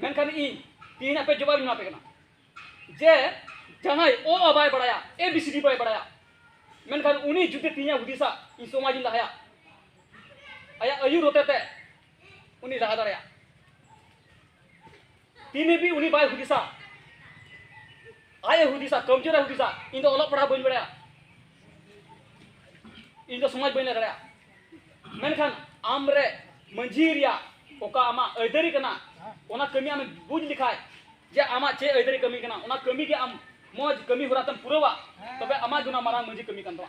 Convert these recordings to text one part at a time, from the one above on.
ᱢᱮᱱᱠᱷᱟᱱ ᱤᱧ ᱛᱤᱦᱤᱧ ᱟᱯᱮ ᱡᱚᱵᱟᱵ ᱤᱧ ᱮᱢᱟᱯᱮ ᱠᱟᱱᱟ ᱡᱮ ᱡᱟᱦᱟᱸᱭ ᱚ ᱟ ᱵᱟᱭ ᱵᱟᱲᱟᱭᱟ ᱮ ᱵᱤ ᱥᱤ ᱰᱤ ᱵᱟᱭ ᱵᱟᱲᱟᱭᱟ ᱢᱮᱱᱠᱷᱟᱱ ᱩᱱᱤ ᱡᱩᱫᱤ ᱛᱤᱦᱤᱧ ᱦᱩᱫᱤᱥᱟ ᱤᱧ ᱥᱚᱢᱟᱡᱽ ᱤᱧ ᱞᱟᱦᱟᱭᱟ ᱟᱭᱟᱜ ᱟᱹᱭᱩᱨ ᱦᱚᱛᱮᱛᱮ ᱩᱱᱤ ᱞᱟᱦᱟ ᱫᱟᱲᱮᱭᱟᱜᱼᱟ ᱛᱤᱱ ᱦᱟᱹᱵᱤᱡ ᱩᱱᱤ ᱵᱟᱭ ᱦᱩᱫᱤᱥᱟ ᱟᱡ ᱮ ᱦᱩᱫᱤᱥᱟ ᱠᱟᱢᱡᱳᱨ ᱮ ᱦᱩᱫᱤᱥᱟ ᱤᱧ ᱫᱚ ᱚᱞᱚᱜ ᱯᱟᱲᱦᱟᱣ ᱵᱟᱹᱧ ᱵᱟᱲᱟᱭᱟ ᱤᱧ ᱫᱚ ᱥᱚᱢᱟᱡᱽ ᱵᱟᱹᱧ ᱞᱟᱹᱭ ᱫᱟᱲᱮᱭᱟᱜᱼᱟ ᱢᱮᱱᱠᱷᱟᱱ ᱟᱢ ᱨᱮ ᱢᱟᱹᱡᱷᱤ ᱨᱮᱭᱟᱜ ᱚᱠᱟ ᱟᱢᱟᱜ ᱟᱹᱭᱫᱟᱹᱨᱤ ᱠᱟᱱᱟ ᱚᱱᱟ ᱠᱟᱹᱢᱤ ᱟᱢᱮ ᱵᱩᱡᱽ ᱞᱮᱠᱷᱟᱡ ᱡᱮ ᱟᱢᱟᱜ ᱪᱮᱫ ᱟᱹᱭᱫᱟᱹᱨᱤ ᱠᱟᱹᱢᱤ ᱠᱟᱱᱟ ᱚᱱᱟ ᱠᱟᱹᱢᱤ ᱜᱮ ᱟᱢ ᱢᱚᱡᱽ ᱠᱟᱹᱢᱤ ᱦᱚᱨᱟ ᱛᱮᱢ ᱯᱩᱨᱟᱹᱣᱟ ᱛᱚᱵᱮ ᱟᱢᱟᱜ ᱜᱮ ᱚᱱᱟ ᱢᱟᱨᱟᱝ ᱢᱟᱹᱡᱷᱤ ᱠᱟᱹᱢᱤ ᱠᱟᱱ ᱛᱟᱢᱟ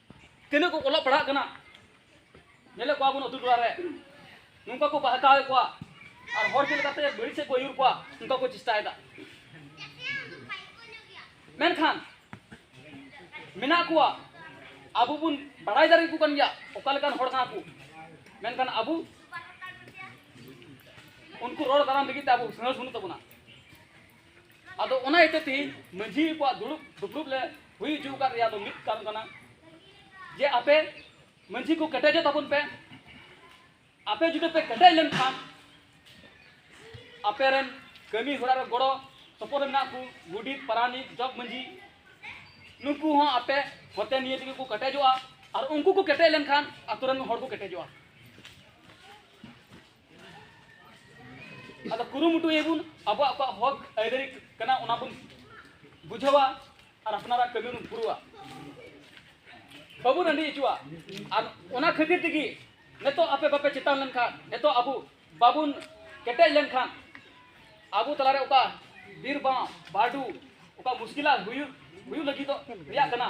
ᱛᱤᱱᱟᱹᱜ ᱠᱚ ᱚᱞᱚᱜ ᱯᱟᱲᱦᱟᱜ ᱠᱟᱱᱟ ᱧᱮᱞᱮᱫ ᱠᱚᱣᱟ ᱵᱚᱱ ᱟᱹᱛᱩ ᱴᱚᱞᱟ ᱨᱮ ᱱᱚᱝᱠᱟ ᱠᱚ ᱵᱟᱦᱠᱟᱣᱮᱫ ᱠᱚᱣᱟ ᱟᱨ ᱦᱚᱲ ᱪᱮᱫ ᱞᱮᱠᱟᱛᱮ ᱵᱟᱹᱲᱤᱡ ᱥᱮᱫ ᱠᱚ ᱟᱹᱭᱩᱨ ᱠᱚᱣᱟ ᱚᱱᱠᱟ ᱠᱚ ᱪᱮᱥᱴᱟᱭᱮᱫᱟ ᱢᱮᱱᱠᱷᱟᱱ ᱢᱮᱱᱟᱜ ᱠᱚᱣᱟ ᱟᱵᱚ ᱵᱚᱱ ᱵᱟᱲᱟᱭ ᱫᱟᱲᱮ ᱠᱚ ᱠᱟᱱ ᱜᱮᱭᱟ ᱚᱠᱟ ᱞᱮᱠᱟᱱ ᱦᱚᱲ ᱠᱟᱱᱟ ᱠᱚ ᱢᱮᱱᱠᱷᱟᱱ ᱟᱵᱚ ᱩᱱᱠᱩ ᱨᱚᱲ ᱫᱟᱨᱟᱢ ᱞᱟᱹᱜᱤᱫ ᱛᱮ ᱟᱵᱚ ᱥᱟᱦᱚᱥ ᱵᱟᱹᱱᱩᱜ ᱛᱟᱵᱚᱱᱟ ᱟᱫᱚ ᱚᱱᱟ ᱤᱭᱟᱹᱛᱮ ᱛᱮᱦᱮᱧ ᱢᱟᱹᱡᱷᱤ ᱠᱚᱣᱟᱜ ᱫᱩᱲᱩᱵ ᱫᱩᱯᱲᱩᱵ ᱞᱮ ᱦᱩᱭ ᱦᱚᱪᱚ ᱟᱠᱟᱫ ᱨᱮᱭᱟᱜ ᱫᱚ ᱢᱤᱫ ᱠᱟᱨᱚᱱ ᱠᱟᱱᱟ ᱡᱮ ᱟᱯᱮ ᱢᱟᱹᱡᱷᱤ ᱠᱚ ᱠᱮᱴᱮᱡᱚᱜ ᱛᱟᱵᱚᱱ ᱯᱮ ᱟᱯᱮ ᱡᱩᱫᱤ ᱯᱮ ᱠᱮᱴᱮᱡ ᱞᱮᱱᱠᱷᱟᱱ ᱟᱯᱮ ᱨᱮᱱ ᱠᱟᱹᱢᱤ ᱦᱚᱨᱟ ᱨᱮ ᱜᱚᱲᱚ ᱥᱚᱯᱚᱦᱚᱫ ᱨᱮ ᱢᱮᱱᱟᱜ ᱠᱚ ᱜᱩᱰᱤᱛ ᱯᱟᱨᱟᱱᱤᱠ ᱡᱚᱜᱽ ᱢᱟᱹᱡᱷᱤ ᱱᱩᱠᱩ ᱦᱚᱸ ᱟᱯᱮ ᱦᱚᱛᱮ ᱱᱤᱭᱟᱹ ᱛᱮᱜᱮ ᱠᱚ ᱠᱮᱴᱮᱡᱚᱜᱼᱟ ᱟᱨ ᱩᱱᱠᱩ ᱠᱚ ᱠᱮᱴᱮᱡ ᱞᱮᱱᱠᱷᱟᱱ ᱟᱛᱳ ᱨᱮᱱ ᱦᱚᱲ ᱠᱚ ᱠᱮᱴᱮᱡᱚᱜᱼᱟ ᱟᱫᱚ ᱠᱩᱨᱩᱢᱩᱴᱩ ᱭᱟᱵᱚᱱ ᱟᱵᱚᱣᱟᱜ ᱚᱠᱟ ᱦᱚᱠ ᱟᱹᱭᱫᱟᱹᱨᱤ ᱠᱟᱱᱟ ᱚᱱᱟ ᱵᱚᱱ ᱵᱩᱡᱷᱟᱹᱣᱟ ᱟᱨ ᱟᱯᱱᱟᱨᱟᱜ ᱠᱟᱹᱢᱤ ᱵᱚᱱ ᱯᱩᱨᱟᱹᱣᱟ ᱵᱟᱵᱚᱱ ᱟᱹᱰᱤ ᱦᱚᱪᱚᱣᱟ ᱟᱨ ᱚᱱᱟ ᱠᱷᱟᱹᱛᱤᱨ ᱛᱮᱜᱮ ᱱᱤᱛᱚᱜ ᱟᱯᱮ ᱵᱟᱯᱮ ᱪᱮᱛᱟᱱ ᱞᱮᱱᱠᱷᱟᱱ ᱱᱤᱛᱚᱜ ᱟᱵᱚ ᱵᱟᱵᱚᱱ ᱠᱮᱴᱮᱡ ᱞᱮᱱᱠᱷᱟᱱ ᱟᱵᱚ ᱛᱟᱞᱟᱨᱮ ᱚᱠᱟ ᱵᱤᱨ ᱵᱟᱝ ᱵᱟᱰᱩ ᱚᱠᱟ ᱢᱩᱥᱠᱤᱞᱟ ᱦᱩᱭᱩᱜ ᱦᱩᱭᱩᱜ ᱞᱟᱹᱜᱤᱫᱚᱜ ᱨᱮᱭᱟᱜ ᱠᱟᱱᱟ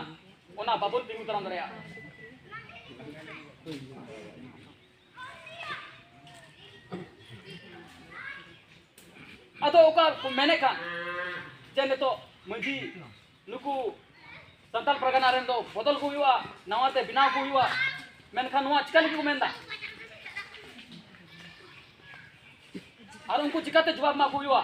ᱚᱱᱟ ᱵᱟᱵᱚᱱ ᱛᱤᱸᱜᱩ ᱫᱟᱨᱟᱢ ᱫᱟᱲᱮᱭᱟᱜᱼᱟ ᱟᱫᱚ ᱚᱠᱟ ᱠᱚ ᱢᱮᱱᱮᱫ ᱠᱟᱱ ᱡᱮ ᱱᱤᱛᱚᱜ ᱢᱟᱺᱡᱷᱤ ᱱᱩᱠᱩ ᱥᱟᱱᱛᱟᱲ ᱯᱟᱨᱜᱟᱱᱟ ᱨᱮᱱ ᱫᱚ ᱵᱚᱫᱚᱞ ᱠᱚ ᱦᱩᱭᱩᱜᱼᱟ ᱱᱟᱣᱟᱛᱮ ᱵᱮᱱᱟᱣ ᱠᱚ ᱦᱩᱭᱩᱜᱼᱟ ᱢᱮᱱᱠᱷᱟᱱ ᱱᱚᱣᱟ ᱪᱤᱠᱟ ᱞᱟᱹᱜᱤᱫ ᱠᱚ ᱢᱮᱱᱫᱟ ᱟᱨ ᱩᱱᱠᱩ ᱪᱤᱠᱟᱛᱮ ᱡᱚᱵᱟᱵ ᱮᱢᱟ ᱠᱚ ᱦᱩᱭᱩᱜᱼᱟ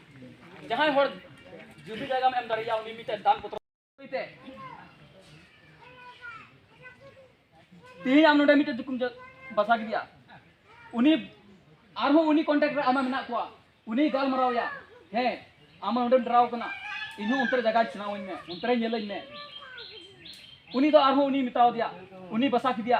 ᱡᱟᱦᱟᱸᱭ ᱦᱚᱲ ᱡᱩᱫᱤ ᱡᱟᱭᱜᱟᱢ ᱮᱢ ᱫᱟᱲᱮᱭᱟᱜᱼᱟ ᱩᱱᱤ ᱢᱤᱫᱴᱮᱱ ᱫᱟᱱ ᱯᱚᱛᱨᱚ ᱛᱮ ᱛᱮᱦᱮᱧ ᱟᱢ ᱱᱚᱰᱮ ᱢᱤᱫᱴᱮᱱ ᱫᱩᱠᱩᱢ ᱵᱟᱥᱟ ᱠᱮᱫᱮᱭᱟ ᱩᱱᱤ ᱟᱨᱦᱚᱸ ᱩᱱᱤ ᱠᱚᱱᱴᱟᱠᱴ ᱨᱮ ᱟᱢᱟ ᱢᱮᱱᱟᱜ ᱠᱚᱣᱟ ᱩᱱᱤ ᱜᱟᱞᱢᱟᱨᱟᱣᱭᱟ ᱦᱮᱸ ᱟᱢ ᱱᱚᱰᱮᱢ ᱰᱨᱟᱣ ᱠᱟᱱᱟ ᱤᱧᱦᱚᱸ ᱚᱱᱛᱮ ᱨᱮ ᱡᱟᱭᱜᱟ ᱪᱷᱟᱱᱟᱣᱟᱹᱧ ᱢᱮ ᱚᱱᱛᱮ ᱨᱮ ᱧᱮᱞᱟᱹᱧ ᱢᱮ ᱩᱱᱤ ᱫᱚ ᱟᱨᱦᱚᱸ ᱩᱱᱤ ᱢᱮᱛᱟᱣ ᱫᱮᱭᱟ ᱩᱱᱤ ᱵᱟᱥᱟ ᱠᱮᱫᱮᱭᱟ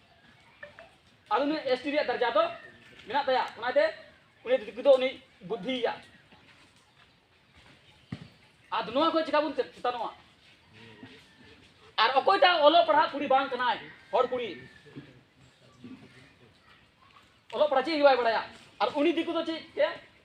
ᱟᱫᱚ ᱱᱩᱭ ᱮᱥ ᱴᱤ ᱨᱮᱭᱟᱜ ᱫᱟᱨᱡᱟ ᱫᱚ ᱢᱮᱱᱟᱜ ᱛᱟᱭᱟ ᱚᱱᱟᱛᱮ ᱩᱱᱤ ᱫᱤᱠᱩ ᱫᱚ ᱩᱱᱤ ᱵᱩᱫᱽᱫᱷᱤᱭᱟ ᱟᱫᱚ ᱱᱚᱣᱟ ᱠᱚ ᱪᱮᱠᱟ ᱵᱚᱱ ᱪᱮᱛᱟᱱᱚᱜᱼᱟ ᱟᱨ ᱚᱠᱚᱭᱴᱟᱜ ᱚᱞᱚᱜ ᱯᱟᱲᱦᱟᱜ ᱠᱩᱲᱤ ᱵᱟᱝ ᱠᱟᱱᱟᱭ ᱦᱚᱲ ᱠᱩᱲᱤ ᱚᱞᱚᱜ ᱯᱟᱲᱦᱟᱜ ᱪᱮᱫ ᱜᱮ ᱵᱟᱭ ᱵᱟᱲᱟᱭᱟ ᱟᱨ ᱩᱱᱤ ᱫᱤᱠᱩ ᱫᱚ ᱪᱮᱫ ᱛᱮ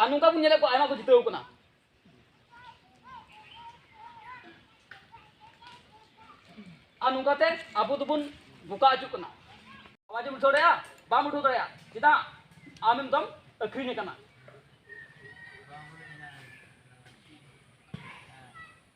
ᱟᱨ ᱱᱚᱝᱠᱟ ᱵᱚᱱ ᱧᱮᱞᱮᱫ ᱠᱚᱣᱟ ᱟᱭᱢᱟ ᱠᱚ ᱡᱤᱛᱟᱹᱣ ᱠᱟᱱᱟ ᱟᱨ ᱱᱚᱝᱠᱟᱛᱮ ᱟᱵᱚ ᱫᱚᱵᱚᱱ ᱵᱚᱠᱟ ᱦᱤᱡᱩᱜ ᱠᱟᱱᱟ ᱟᱣᱟᱡᱽ ᱮᱢ ᱩᱴᱷᱟᱹᱣ ᱫᱟᱲᱮᱭᱟᱜᱼᱟ ᱵᱟᱢ ᱩᱴᱷᱟᱹᱣ ᱫᱟᱲᱮᱭᱟᱜᱼᱟ ᱪᱮᱫᱟᱜ ᱟᱢ ᱮᱠᱫᱚᱢ ᱟᱹᱠᱷᱨᱤᱧ ᱟᱠᱟᱱᱟ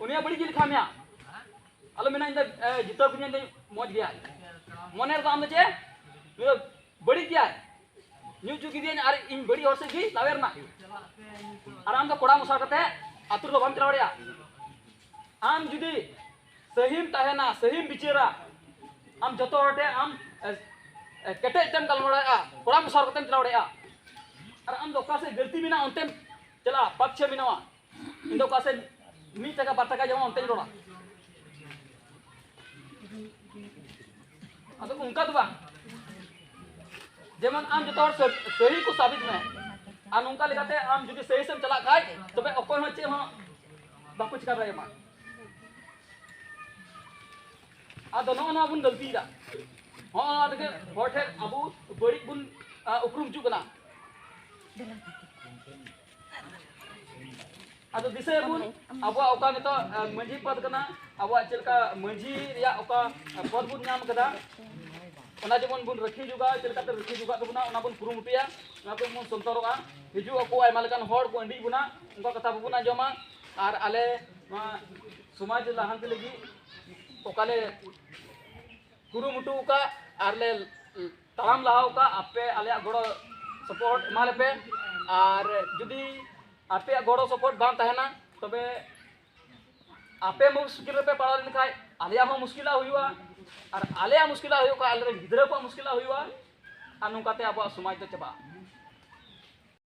ᱩᱱᱤᱭᱟᱜ ᱵᱟᱹᱲᱤᱡ ᱜᱮ ᱞᱮᱠᱷᱟ ᱢᱮᱭᱟ ᱟᱞᱚ ᱢᱮᱱᱟ ᱤᱧ ᱫᱚ ᱡᱤᱛᱟᱹᱣ ᱠᱤᱫᱤᱧ ᱫᱚ ᱢᱚᱡᱽ ᱜᱮᱭᱟ ᱢᱚᱱᱮ ᱨᱮᱫᱚ ᱟᱢ ᱫᱚ ᱪᱮᱫ ᱱᱩᱭ ᱫᱚ ᱵᱟᱹᱲᱤᱡ ᱜᱮᱭᱟ ᱧᱩ ᱦᱚᱪᱚ ᱠᱤᱫᱤᱧ ᱟᱨ ᱤᱧ ᱵᱟᱹᱲᱤᱡ ᱦᱚᱲ ᱥᱮᱫ ᱜᱮ ᱞᱟᱣᱮ ᱨᱮᱱᱟᱜ ᱟᱨ ᱟᱢ ᱫᱚ ᱠᱚᱲᱟ ᱢᱚᱥᱟ ᱠᱟᱛᱮ ᱟᱛᱳ ᱨᱮᱫᱚ ᱵᱟᱢ ᱪᱟᱞᱟᱣ ᱫᱟᱲᱮᱭᱟᱜᱼᱟ ᱟᱢ ᱡᱩᱫᱤ ᱥᱟᱹᱦᱤᱢ ᱛᱟᱦᱮᱱᱟ ᱥᱟᱹᱦᱤᱢ ᱵᱤᱪᱟᱹᱨᱟ ᱟᱢ ᱡᱚᱛᱚ ᱦᱚᱲ ᱴᱷᱮᱱ ᱟᱢ ᱠᱮᱴᱮᱡ ᱛᱮᱢ ᱜᱟᱞᱢᱟᱨᱟᱣ ᱫᱟᱲᱮᱭᱟᱜᱼᱟ ᱠᱚᱲᱟ ᱢᱚᱥᱟ ᱠᱟᱛᱮᱢ ᱪᱟᱞᱟᱣ ᱫᱟᱲᱮᱭᱟᱜᱼᱟ ᱟᱨ ᱟᱢ ᱫᱚ ᱚᱠᱟ ᱥᱮᱫ ᱜᱟᱹᱞᱛᱤ ᱢᱮᱱᱟᱜᱼᱟ ᱚᱱᱛᱮᱢ ᱪᱟᱞᱟᱜᱼᱟ ᱯᱟᱠᱪᱷᱮ ᱢᱮᱱᱟᱜᱼᱟ ᱤᱧ ᱫᱚ ᱚᱠᱟ ᱥᱮᱫ ᱢᱤᱫ ᱴᱟᱠᱟ ᱵᱟᱨ ᱴᱟᱠᱟ ᱡᱮᱢᱚᱱ ᱚᱱᱛᱮᱧ ᱨᱚᱲᱟ ᱟᱫᱚ ᱚᱱᱠᱟ ᱫᱚ ᱵᱟᱝ ᱡᱮᱢᱚᱱ ᱟᱢ ᱡᱚᱛᱚ ᱦᱚᱲ ᱥᱟᱹᱦᱤ ᱠᱚ ᱥᱟᱵᱤᱛ ᱢᱮ ᱟᱨ ᱱᱚᱝᱠᱟ ᱞᱮᱠᱟᱛᱮ ᱟᱢ ᱡᱩᱫᱤ ᱥᱟᱹᱦᱤ ᱥᱮᱢ ᱪᱟᱞᱟᱜ ᱠᱷᱟᱡ ᱛᱚᱵᱮ ᱚᱠᱚᱭ ᱦᱚᱸ ᱪᱮᱫ ᱦᱚᱸ ᱵᱟᱠᱚ ᱪᱤᱠᱟ ᱫᱟᱲᱮᱭᱟᱢᱟ ᱟᱫᱚ ᱱᱚᱜᱼᱚ ᱱᱚᱣᱟ ᱵᱚᱱ ᱜᱟᱹᱞᱛᱤᱭᱮᱫᱟ ᱦᱚᱸᱜᱼᱚ ᱱᱚᱣᱟ ᱛᱮᱜᱮ ᱦᱚᱲ ᱴᱷᱮᱱ ᱟᱵᱚ ᱵᱟᱹᱲᱤᱡ ᱵᱚᱱ ᱩᱯᱨᱩᱢ ᱦᱤᱡᱩᱜ ᱠᱟᱱᱟ ᱟᱫᱚ ᱫᱤᱥᱟᱹᱭᱟᱵᱚᱱ ᱟᱵᱚᱣᱟᱜ ᱚᱠᱟ ᱱᱤᱛᱚᱜ ᱢᱟᱹᱡᱷᱤ ᱯᱚᱫ ᱠᱟᱱᱟ ᱟᱵᱚᱣᱟᱜ ᱪᱮᱫ ᱞᱮᱠᱟ ᱢᱟᱹᱡᱷᱤ ᱨᱮᱭᱟᱜ ᱚᱠᱟ ᱯᱚᱫ ᱵᱚᱱ ᱧᱟᱢ ᱠᱟᱫᱟ ᱚᱱᱟ ᱡᱮᱢᱚᱱ ᱵᱚᱱ ᱨᱟᱹᱠᱷᱤ ᱡᱚᱜᱟᱣ ᱪᱮᱫ ᱞᱮᱠᱟᱛᱮ ᱨᱟᱹᱠᱷᱤ ᱡᱚᱜᱟᱜ ᱛᱟᱵᱚᱱᱟ ᱚᱱᱟ ᱵᱚᱱ ᱠᱩᱨᱩᱢᱩᱴᱩᱭᱟ ᱚᱱᱟ ᱠᱚ ᱵᱚᱱ ᱥᱚᱱᱛᱚᱨᱚᱜᱼᱟ ᱦᱤᱡᱩᱜ ᱟᱠᱚ ᱟᱭᱢᱟ ᱞᱮᱠᱟᱱ ᱦᱚᱲ ᱠᱚ ᱟᱹᱰᱤ ᱵᱚᱱᱟ ᱩᱱᱠᱩ ᱠᱟᱛᱷᱟ ᱵᱟᱵᱚᱱ ᱟᱸᱡᱚᱢᱟ ᱟᱨ ᱟᱞᱮ ᱱᱚᱣᱟ ᱥᱚᱢᱟᱡᱽ ᱞᱟᱦᱟᱱᱛᱤ ᱞᱟᱹᱜᱤᱫ ᱚᱠᱟᱞᱮ ᱠᱩᱨᱩᱢᱩᱴᱩ ᱟᱠᱟᱫ ᱟᱨᱞᱮ ᱛᱟᱲᱟᱢ ᱞᱟᱦᱟᱣ ᱟᱠᱟᱫ ᱟᱯᱮ ᱟᱞᱮᱭᱟᱜ ᱜᱚᱲᱚ ᱥᱚᱯᱚᱦᱚᱫ ᱮᱢᱟ ᱞᱮᱯᱮ ᱟᱨ ᱡᱩᱫᱤ ᱟᱯᱮᱭᱟᱜ ᱜᱚᱲᱚ ᱥᱚᱯᱚᱦᱚᱫ ᱵᱟᱝ ᱛᱟᱦᱮᱱᱟ ᱛᱚᱵᱮ ᱟᱯᱮ ᱢᱩᱥᱠᱤᱞ ᱨᱮᱯᱮ ᱯᱟᱲᱟᱣ ᱞᱮᱱᱠᱷᱟᱡ ᱟᱞᱮᱭᱟᱜ ᱦᱚᱸ ᱢᱩᱥᱠᱤᱞᱟᱜ ᱦᱩᱭᱩᱜᱼᱟ ᱟᱨ ᱟᱞᱮᱭᱟᱜ ᱢᱩᱥᱠᱤᱞᱟᱜ ᱦᱩᱭᱩᱜ ᱠᱷᱟᱡ ᱟᱞᱮᱨᱮᱱ ᱜᱤᱫᱽᱨᱟᱹ ᱠᱚᱣᱟᱜ ᱢᱩᱥᱠᱤᱞᱟᱜ ᱦᱩᱭᱩᱜᱼᱟ ᱟᱨ ᱱᱚᱝᱠᱟᱛᱮ ᱟᱵᱚᱣᱟᱜ ᱥᱚᱢᱟᱡᱽ ᱫᱚ ᱪᱟᱵᱟᱜᱼᱟ